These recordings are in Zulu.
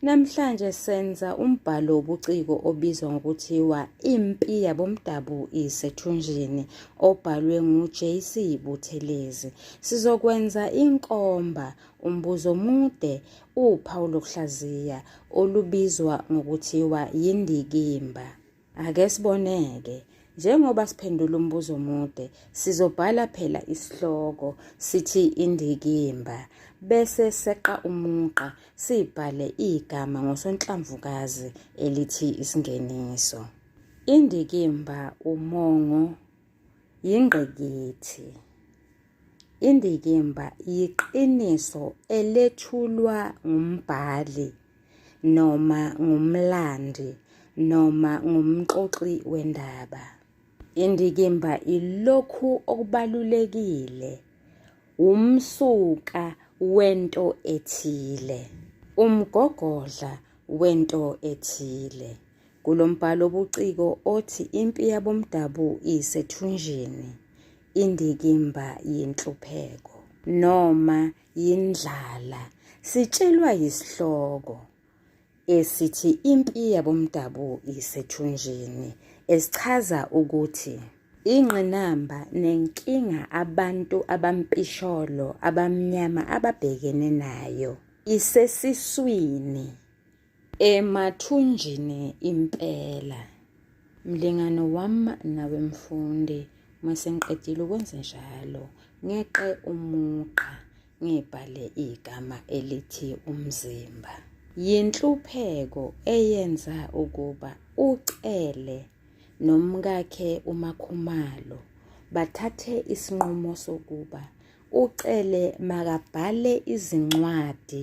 Namhlanje senza umbhalo wobuciko obizwa ngokuthiwa Impi Yabomdabu Isethunjini obhalwe ngu-JC Buthelezi. Sizokwenza inkomba, umbuzo omude, uphawu lokuhlaziya olubizwa ngokuthiwa yindikimba. Ake siboneke njengoba siphendula umbuzo omude sizobhala phela isihloko sithi indikimba bese seqa umugqa sibhale igama ngosonhlamvukazi elithi isingeniso indikimba umongo yingqikithi indikimba yiqiniso elethulwa ngumbhali noma ngumlandi noma ngumxoxi wendaba. Indikimba ilokhu okubalulekile, wumsuka wento ethile, umgogodla wento ethile. Kulo mbhalo obuciko othi Impi Yabomdabu Isethunjini, indikimba yenhlupheko noma yindlala sitshelwa yisihloko esithi impi yabomdabu isethunjini esichaza ukuthi ingqinamba nenkinga abantu abampisholo abamnyama ababhekene nayo isesiswini Emathunjini impela. Mlingane wami nawe mfundi, uma sengiqedile ukwenze njalo, ngeqe umugqa ngibhale igama elithi umzimba. Yinhlupheko eyenza ukuba uCele nomkakhe uMakhumalo bathathe isinqumo sokuba uCele makabhale izincwadi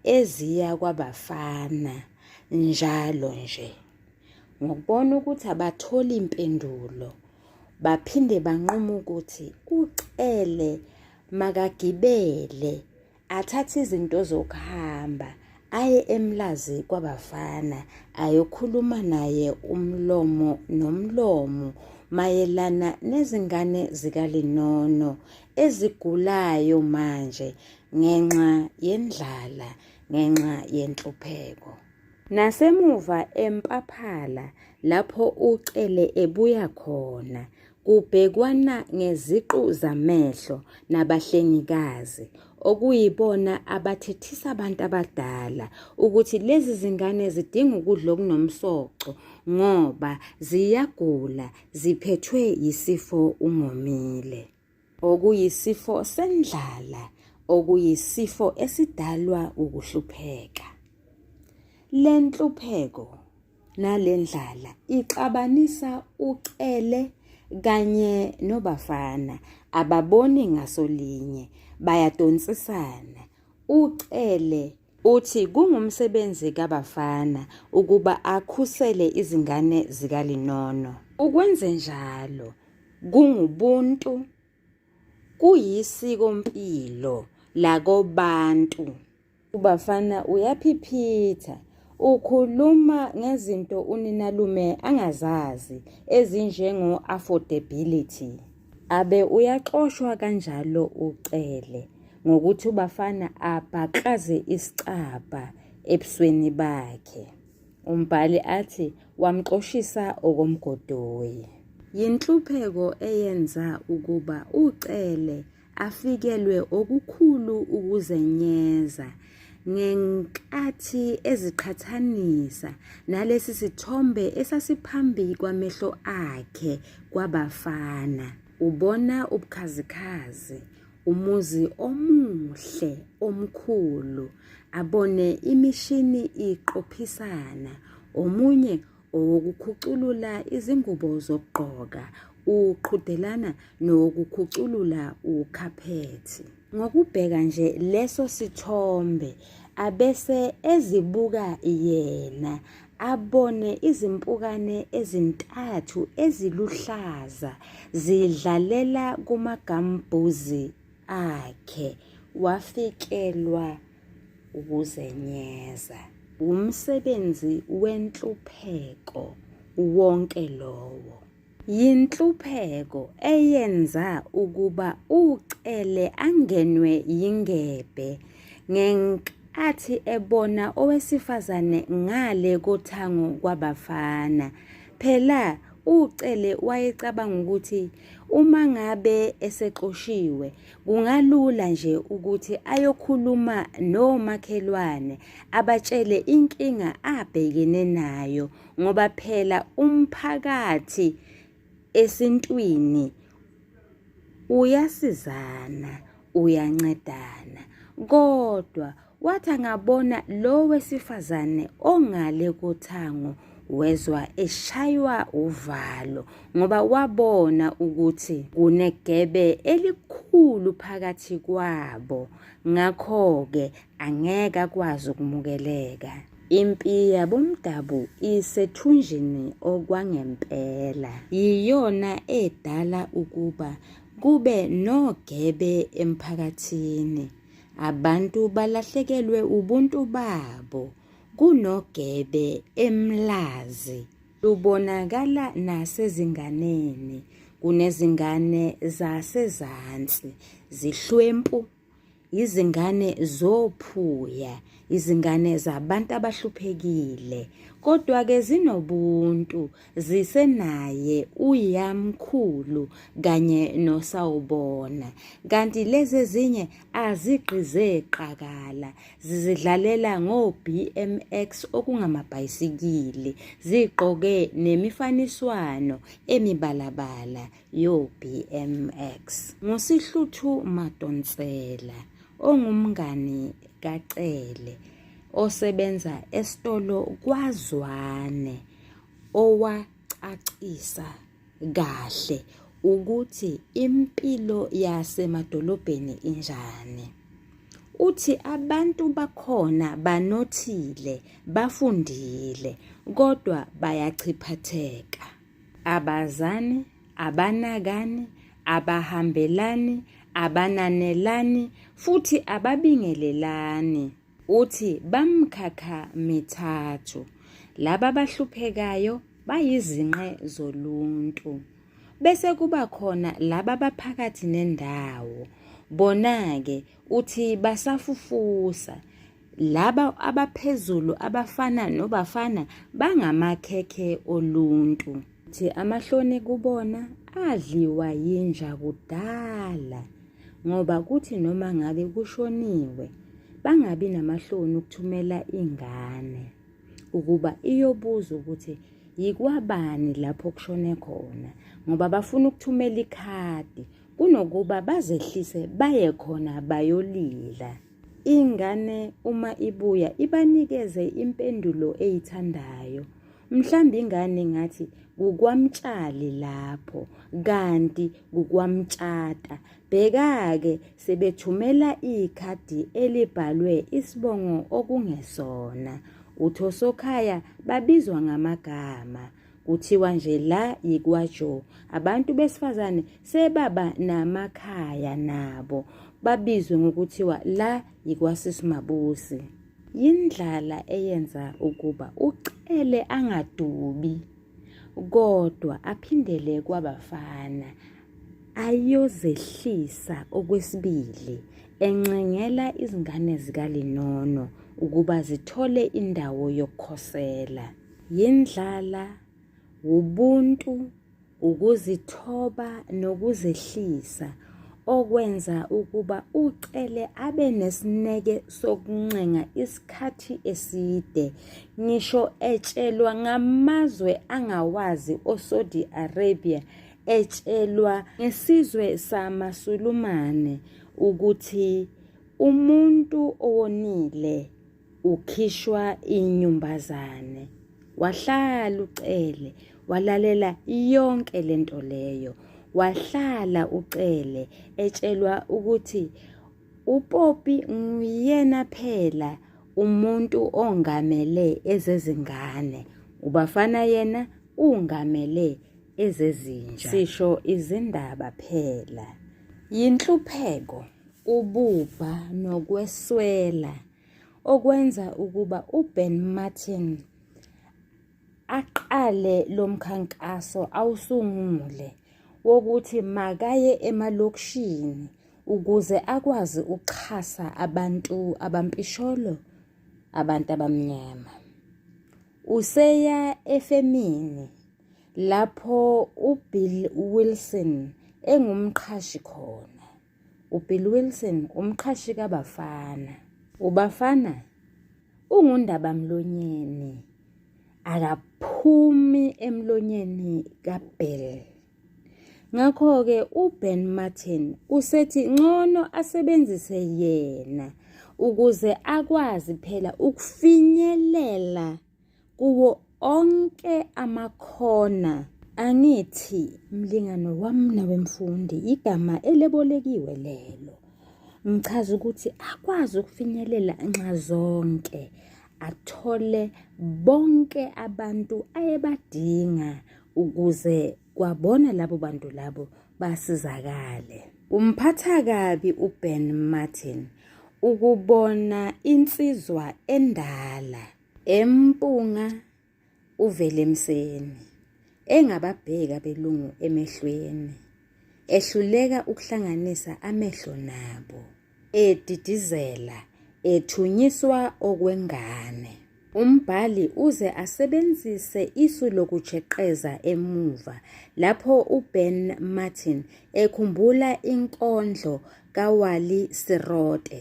eziya kwabafana njalo nje ngokubona ukuthi abatholi impendulo baphinde banquma ukuthi uCele makagibele athathe izinto zokuhamba aye emlazi kwabafana ayokhuluma naye umlomo nomlomo mayelana nezingane zikalinono ezigulayo manje ngenxa yendlala ngenxa yenhlupheko nasemuva empaphala lapho ucele ebuya khona Kubhekwana ngeziqu zamehlo nabahlengikazi okuyibona abathethisa abantu abadala ukuthi lezi zingane zidinga ukudla okunomsoco ngoba ziyagula ziphethwe yisifo ungomile okuyisifo sendlala okuyisifo esidalwa ukuhlupheka le nhlupheko nalendlala ixabanisa ucele kanye nobafana ababoni ngasolinye bayadonsisana ucele uthi kungumsebenzi kabafana ukuba akhusele izingane zikalinono ukwenze njalo kungubuntu kuyisiko mpilo lakobantu Ubafana uyaphiphitha. Ukhuluma ngezinto uninalume angazazi ezinjengo affordability. Abe uyaxoshwa kanjalo uCele ngokuthi ubafana abhaqaze isicabha ebusweni bakhe. Umbhali athi wamxoshisa okomgodoyi. Yinhlupheko eyenza ukuba uCele afikelwe okukhulu ukuzenyeza ngenkathi eziqhathanisa nalesi sithombe esasiphambi kwamehlo akhe kwabafana ubona ubukhazikhazi umuzi omuhle omkhulu abone imishini iqophisana omunye owokukhuculula izingubo zokugqoka uqhudelana nowokukhuculula ukhaphethi ngokubheka nje leso sithombe abese ezibuka yena abone izimpukane ezintathu eziluhlaza zidlalela kumagambuzi akhe wafikelwa ukuzenyeza. Wumsebenzi wenhlupheko wonke lowo. Yinhlupheko eyenza ukuba uCele angenwe yingebhe ngenkathi ebona owesifazane ngale kothango kwabafana. Phela uCele wayecabanga ukuthi uma ngabe esexoshiwe Kungalula nje ukuthi ayokhuluma nomakhelwane abatshele inkinga abhekene nayo ngoba phela umphakathi esintwini uyasizana, uyancedana kodwa Wathi angabona lo wesifazane ongale kothango wezwa eshaywa uvalo ngoba wabona ukuthi kunegebe elikhulu phakathi kwabo ngakho-ke angeke akwazi ukumukeleka impi yabomdabu isethunjini okwangempela yiyona edala ukuba kube nogebe emphakathini Abantu balahlekelwe ubuntu babo kunogebe emlazi. Lubonakala nasezinganeni. Kunezingane zasezansi zihlwempu, izingane zophuya, izingane zabantu abahluphekile, kodwa-ke zinobuntu. zisenaye uyamkhulu kanye nosawubona kanti lezi ezinye azigqize qakala zizidlalela ngo-BMX okungamabhayisikili zigqoke nemifaniswano emibalabala yo-BMX ngusihluthu madonsela ongumngani kacele osebenza esitolo kwazwane owacacisa kahle ukuthi impilo yasemadolobheni injani. Uthi abantu bakhona banothile, bafundile kodwa bayachiphatheka. Abazani, abanakani, abahambelani, abananelani futhi ababingelelani. Uthi bamkhakha mithathu. Laba abahluphekayo bayizinqe zoluntu. Bese kuba khona laba abaphakathi nendawo. Bona-ke uthi basafufusa. Laba abaphezulu abafana nobafana bangamakhekhe oluntu. Thi amahloni kubona adliwa yinja kudala ngoba kuthi noma ngabe kushoniwe bangabi namahloni ukuthumela ingane ukuba iyobuza ukuthi yikwabani lapho kushone khona ngoba bafuna ukuthumela ikhadi kunokuba bazehlise baye khona bayolila ingane uma ibuya ibanikeze impendulo eyithandayo mhlawumbe ingane ngathi kukwamtshali lapho kanti kukwamtshata bheka-ke sebethumela ikhadi elibhalwe isibongo okungesona uthosokhaya babizwa ngamagama kuthiwa nje la yikwajo abantu besifazane sebaba namakhaya nabo babizwe ngokuthiwa la yikwasisimabusi Yindlala eyenza ukuba uCele angadubi kodwa aphindele kwabafana ayozehlisa okwesibili encengela izingane zikaLinono ukuba zithole indawo yokukhosela. Yindlala, wubuntu ukuzithoba nokuzehlisa okwenza ukuba ucele abe nesineke sokuncenga isikhathi eside ngisho etshelwa ngamazwe angawazi oSaudi Arabia etshelwa ngesizwe samaSulumane ukuthi umuntu owonile ukhishwa inyumbazane wahlala ucele walalela yonke lento leyo wahlala ucele etshelwa ukuthi uPopi nguyena phela umuntu ongamele ezezingane ubafana yena ungamele ezezinja sisho izindaba phela yinhlupheko ububha nokweswela okwenza ukuba uBen Martin aqale lomkhankaso awusungule wokuthi makaye emalokishini ukuze akwazi ukuxhasa abantu abampisholo abantu abamnyama useya efemini lapho uBill Wilson engumqhashi khona. UBill Wilson umqhashi kaBafana. UBafana ungundabamlonyeni akaphumi emlonyeni kaBill. Ngakho-ke uBen Martin usethi ngcono asebenzise yena ukuze akwazi phela ukufinyelela kuwo onke amakhona angithi mlingano wami nawe mfundi igama elebolekiwe lelo ngichaza ukuthi akwazi ukufinyelela nxa zonke athole bonke abantu ayebadinga ukuze kwabona labo bantu labo basizakale kumphatha kabi uben martin ukubona insizwa endala Empunga uVelemseni engababheka belungu emehlweni ehluleka ukuhlanganisa amehlo nabo edidizela ethunyiswa okwengane umbhali uze asebenzise isu lokujeqeza emuva lapho uBen Martin ekhumbula inkondlo kaWally Sirote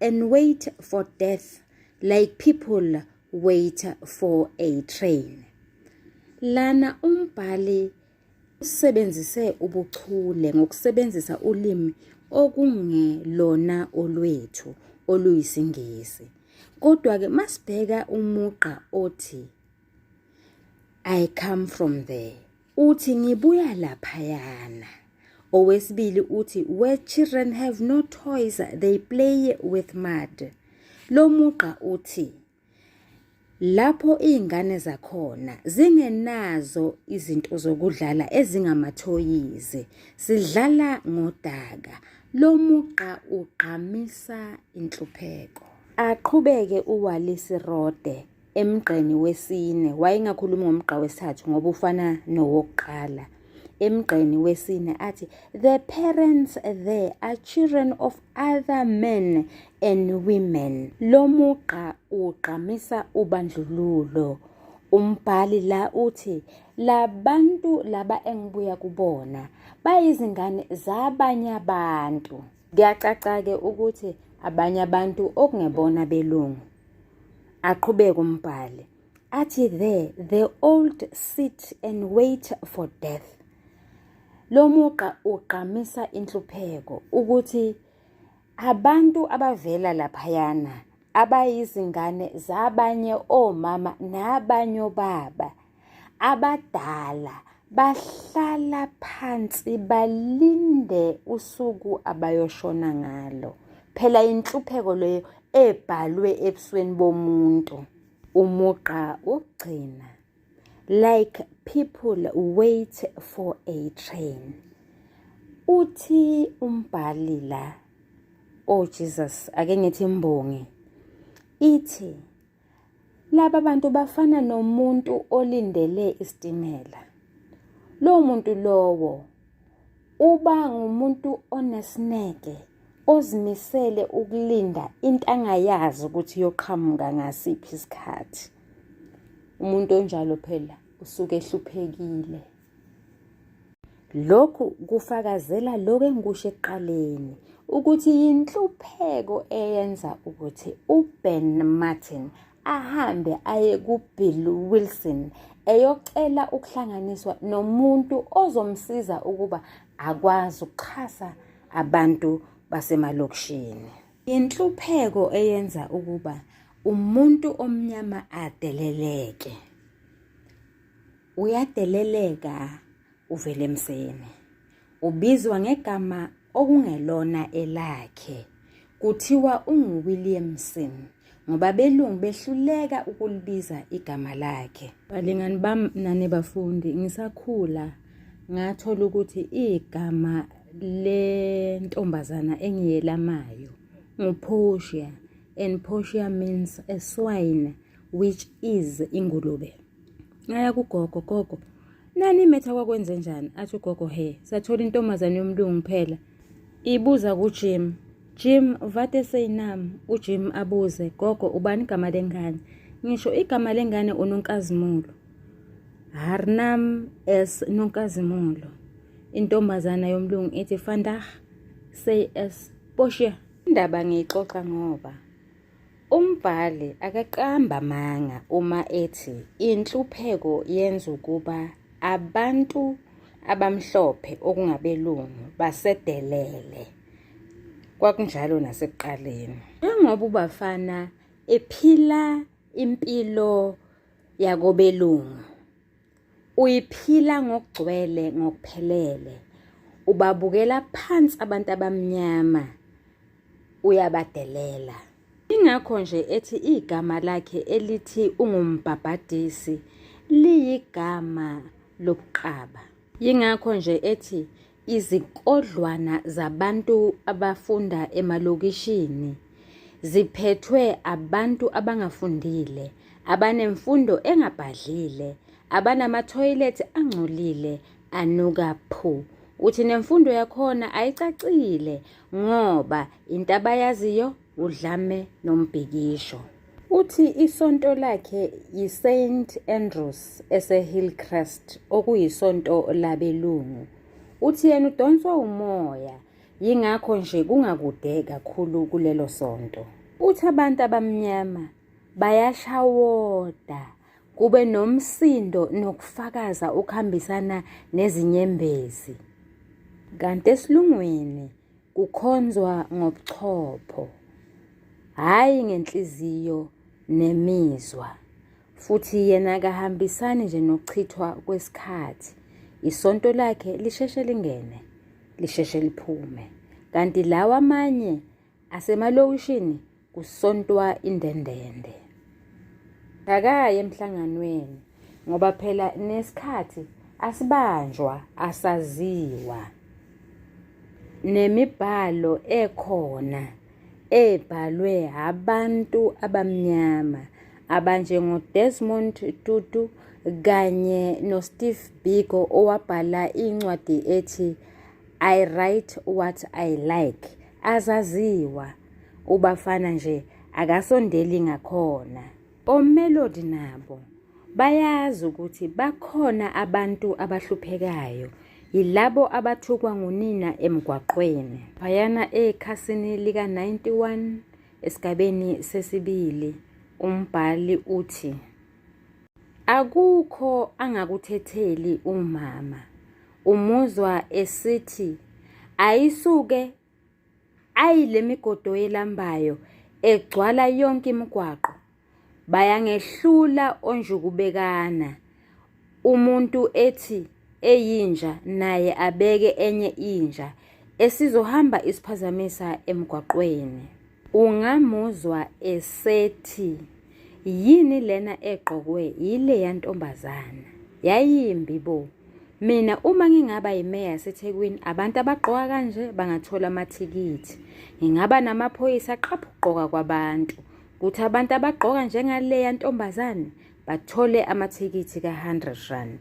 and wait for death like people wait for a train lana umbhali usebenzise ubuchule ngokusebenzisa ulimi okungelona olwethu oluyisingisi kodwa ke masibheka umugqa othi i come from there Uthi ngibuya laphayana. Owesibili uthi where children have no toys they play with mud. Lo mugqa uthi lapho izingane zakhona zingenazo izinto zokudlala ezingamathoyizi sidlala ngodaka lo mugqa ugqamisa inhlupheko aqhubeke uwalisi rode emgqeni wesine wayengakhulumi ngomgqa wesithathu ngoba ufana nowokuqala emgqeni wesine athi the parents there are children of other men and women lo mugqa ugqamisa ubandlululo umbhali la uthi labantu laba engibuya kubona bayizingane zabanye abantu Kuyacaca-ke ukuthi abanye abantu okungebona belungu. Aqhubeke umbhali athi there the old sit and wait for death. Lo mugqa ugqamisa inhlupheko ukuthi abantu abavela laphayana abayizingane zabanye omama nabanye obaba Abadala bahlala phansi balinde usuku abayoshona ngalo. Phela inhlupheko leyo ebhalwe ebusweni bomuntu. Umugqa wokugcina like people wait for a train. Uthi umbhali la, oh Jesus, ake ngithi imbongi ithi Laba bantu bafana nomuntu olindele isitimela. Lowo muntu lowo uba ngumuntu onesineke ozimisele ukulinda into angayazi ukuthi iyoqhamuka ngasiphi isikhathi. Umuntu onjalo phela usuke ehluphekile. Lokhu kufakazela lokho engikusho ekuqaleni ukuthi yinhlupheko eyenza ukuthi uBen Martin ahambe aye kuBill Wilson eyocela ukuhlanganiswa nomuntu ozomsiza ukuba akwazi ukuxhasa abantu basemalokishini. Inhlupheko eyenza ukuba umuntu omnyama adeleleke. uyadeleleka uvele emseni ubizwa ngegama okungelona elakhe kuthiwa unguWilliamson ngoba belungu behluleka ukulibiza igama lakhe balingani bam nane bafundi ngisakhula ngathola ukuthi igama lentombazana engiyelamayo nguPortia and Portia means a swine which is ingulube ngaya kugogo gogo nani imetha kwakwenze njani athi ugogo he sathola intombazane yomlungu phela ibuza kujim jim vate seyinam ujim abuze gogo ubani igama lengane ngisho igama lengane unonkazimulo harnam s nonkazimulo intombazana yomlungu ithi fandah say s boshiya indaba ngiyixoxa ngoba Umbhali akaqamba amanga uma ethi inhlupheko yenza ukuba abantu abamhlophe okungabelungu basedelele. Kwakunjalo nasekuqaleni. Njengoba uBafana ephila impilo yakobelungu, Uyiphila ngokugcwele ngokuphelele. Ubabukela phansi abantu abamnyama. Uyabadelela. Ingakho nje ethi igama lakhe elithi ungumbhabhadisi liyigama lobuqaba. Yingakho nje ethi Izikodlwana zabantu abafunda emalokishini ziphethwe abantu abangafundile, abanemfundo engabhadlile, abanamathoyilethi angcolile anuka phu. Uthi nemfundo yakhona ayicacile ngoba into abayaziyo udlame nombhikisho. Uthi isonto lakhe yiSaint Andrews eseHillcrest okuyisonto labelungu. Uthi yena udonswa umoya yingakho nje kungakude kakhulu kulelo sonto. Uthi abantu abamnyama bayashawoda kube nomsindo nokufakaza okuhambisana nezinyembezi. Kanti esilungwini Kukhonzwa ngobuchopho, hhayi ngenhliziyo nemizwa, futhi yena kahambisani nje nokuchithwa kwesikhathi. Isonto lakhe lisheshe lingene, lisheshe liphume, kanti lawa amanye asemalokishini kusontwa indendende akaye emhlanganweni ngoba phela nesikhathi asibanjwa asaziwa nemibhalo ekhona ebhalwe abantu abamnyama abanjengoDesmond Tutu kanye noSteve Biko owabhala incwadi ethi I write what I like. Azaziwa. Ubafana nje akasondeli ngakhona. OMelody nabo bayazi ukuthi bakhona abantu abahluphekayo yilabo abathukwa ngunina emgwaqweni. Bayana ekhasini lika 91 esigabeni sesibili umbhali uthi Akukho angakuthetheli umama. Umuzwa esithi ayisuke ayilemigodo yelambayo egcwala yonke imigwaqo. Bayangehlula onjukubekana. Umuntu ethi eyinja naye abeke enye inja esizohamba isiphazamisa emgwaqweni. Ungamuzwa esethi yini lena egqokwe yileya ntombazana yayimbi bo mina uma ngingaba yimeya yasethekwini abantu abagqoka kanje bangathola amathikithi ngingaba namaphoyisa aqapha ukugqoka kwabantu kuthi abantu abagqoka njengaleya ntombazane bathole amathikithi ka-hundred rand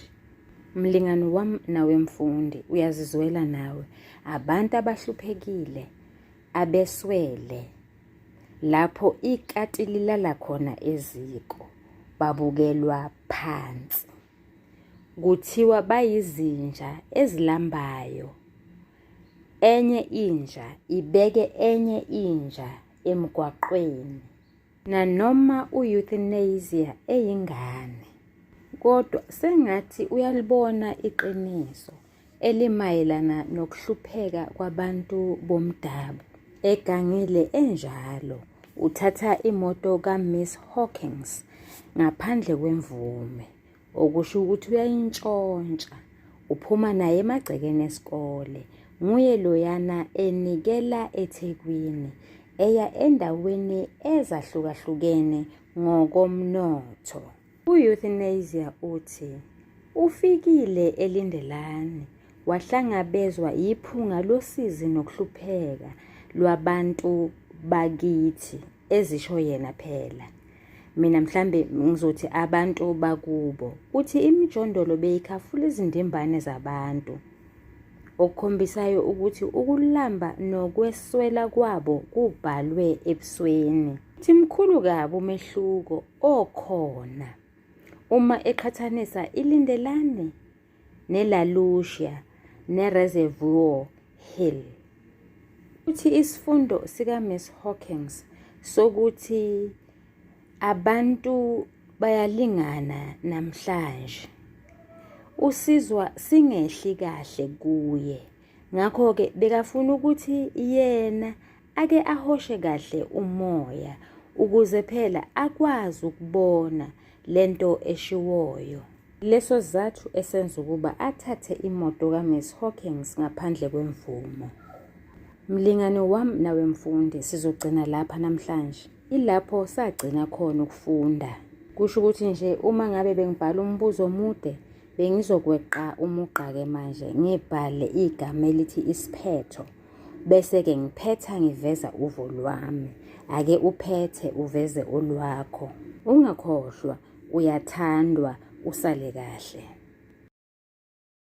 mlingani wam nawe mfundi uyazizwela nawe abantu abahluphekile abeswele lapho ikati lilala khona eziko babukelwa phansi kuthiwa bayizinja ezilambayo enye inja ibeke enye inja emgwaqweni nanoma u-euthanasia eyingane kodwa sengathi uyalibona iqiniso elimayelana nokuhlupheka kwabantu bomdabu egangile enjalo uthatha imoto kaMiss Hawkins ngaphandle kwemvume okusho ukuthi uyayintshontsha uphuma naye emagcekeni esikole nguye loyana enikela eThekwini eya endaweni ezahlukahlukene ngokomnotho U-euthanasia uthi ufikile elindelani wahlangabezwa yiphunga losizi nokuhlupheka lwabantu bakithi ezisho yena phela mina mhlambe ngizothi abantu bakubo uthi imijondolo beyikhafula izindimbane zabantu okukhombisayo ukuthi ukulamba nokweswela kwabo kubhalwe ebusweni Uthi mkhulu kabi umehluko okhona uma eqhathanisa iLindelani neLa Lucia neReservoir Hill. Uthi isifundo sikaMiss Hawkins sokuthi abantu bayalingana namhlanje usizwa singehli kahle kuye ngakho-ke bekafuna ukuthi yena ake ahoshe kahle umoya ukuze phela akwazi ukubona lento eshiwoyo leso sizathu esenza ukuba athathe imoto kaMiss Hawkins ngaphandle kwemvumo mlingane wami nawe mfundi sizogcina lapha namhlanje ilapho sagcina khona ukufunda kusho ukuthi nje uma ngabe bengibhala umbuzo omude bengizokweqa umugqa-ke manje ngibhale igama elithi isiphetho bese-ke ngiphetha ngiveza uvo lwami ake uphethe uveze olwakho ungakhohlwa uyathandwa usale kahle